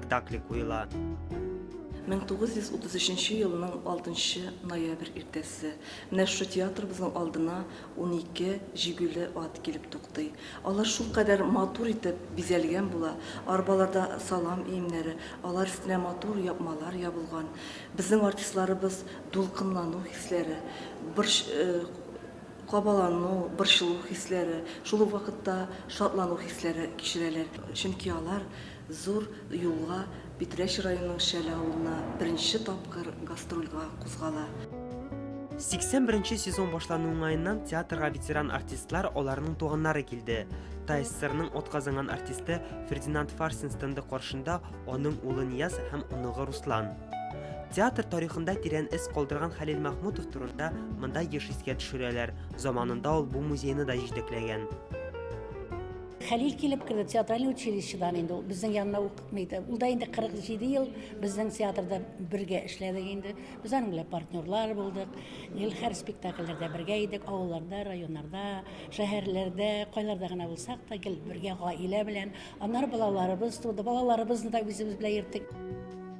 спектакле куела. 1933 елның 6 ноябрь иртәсе. Менә шушы театрыбызның алдына унике җигүле ат килеп туктый. Алар шулкадәр матур итеп бизәлгән була. Арбаларда салам иемнәре, алар өстенә матур япмалар ябылган. Безнең артистларыбыз дулкынлану хисләре, борч, э, кабалану, борчылу хисләре, шул ук вакытта шатлану хисләре кичерәләр. Чөнки алар Зур юлга, Питрәч районының Шәле авылына беренче тапкыр гастрольга кузгала. 81 нче сезон башлану уңаеннан театрга ветеран артистлар, аларның туганнары килде. ТАССРның атказанган артисты Фердинанд Фарсин стенды каршында аның улы Нияз һәм оныгы Руслан. Театр тарихында тирән эз калдырган Хәлил Мәхмүтов турында монда еш искә төшерәләр, заманында ул бу музейны да җитәкләгән. Хәлил килеп керде театральный училищедан инде ул безнең янына укытмый иде. Ул да инде 47 ел безнең театрда бергә эшләдек инде. Без аның белән партнерлар булдык. Илхәр спектакльләрдә бергә идек, авылларда, районнарда, шәһәрләрдә, кайларда гына булсак та гел бергә гаилә белән. Аннары балаларыбыз туды. Балаларыбызны да үзебез белән йөрттек.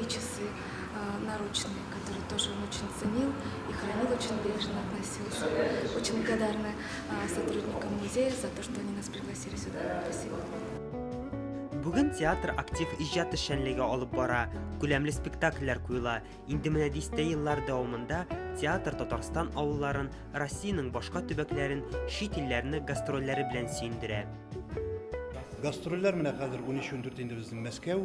И часы наручные, которые тоже он очень ценил и хранил очень бережно относился. Очень благодарны сотрудникам музея за то, что они нас пригласили сюда. Спасибо. Бүген театр актив иҗат эшчәнлеге алып бара, күләмле спектакльләр куела. Инде менә дистә еллар дәвамында театр Татарстан авылларын, Россиянең башка төбәкләрен, чит илләрне гастрольләре белән сөендерә. Гастрольләр менә хәзер 13-14 инде безнең Мәскәү,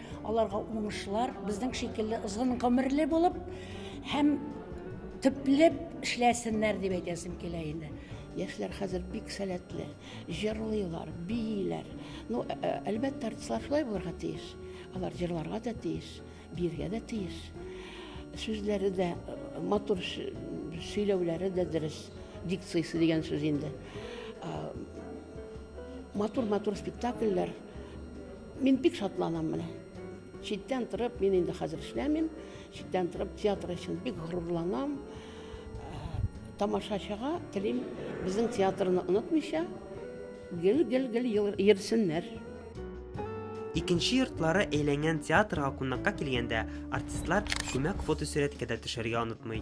Аларга уңышлар, безнең шикелле озын гомерле булып һәм төпле эшләсеннәр дип әйтәсем килә инде. Яшьләр хәзер бик сәләтле, җырлыйлар, бииләр. Ну, э, э, әлбәттә, артистлар шулай булырга тиеш. Алар җырларга да тиеш, биергә дә тиеш. Сүзләре дә э, матур сөйләүләре дә дөрес. Дикциясе дигән сүз инде. Матур-матур спектакльләр Мин бик шатланам менә. Читтән торып, мин инде хәзер эшләмим, читтән торып театр өчен бик горурланам. Э, тамашачыга телим, безнең театрны онытмыйча, гел-гел-гел йөрсеннәр. Икенче йортлары әйләнгән театрга кунакка килгәндә артистлар күмәк фотосурәткә дә төшәргә онытмый.